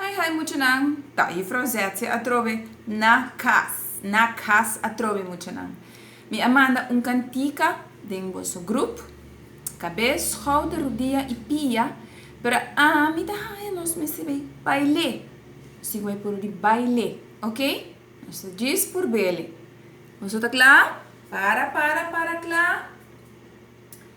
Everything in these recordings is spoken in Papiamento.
Hai hai muchanan, ta Juffrouw Zetje atrobe na cas, na cas atrobe muchanan. Mi a manda un cantica den boso groep, cabez, schouder, rodilla y pia, pero ami ta haya nos mester bay baile, nos tin cu bay puru di baile, ok? Nos ta djis por bele. Boso ta cla? Para, para, para cla?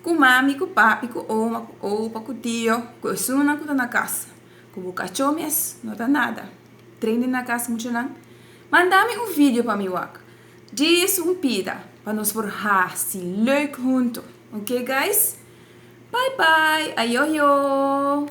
Ku mami, ku papi, ku oma, ku opa, ku tio, ku esunnan ku ta na kas, ku bo kachó mes, no ta nada. Training na kas muchanan? Manda mi un video pa mi wak. Djis un pida pa nos por hasi leuk huntu. Oké guys? Bye bye! Ayoyo!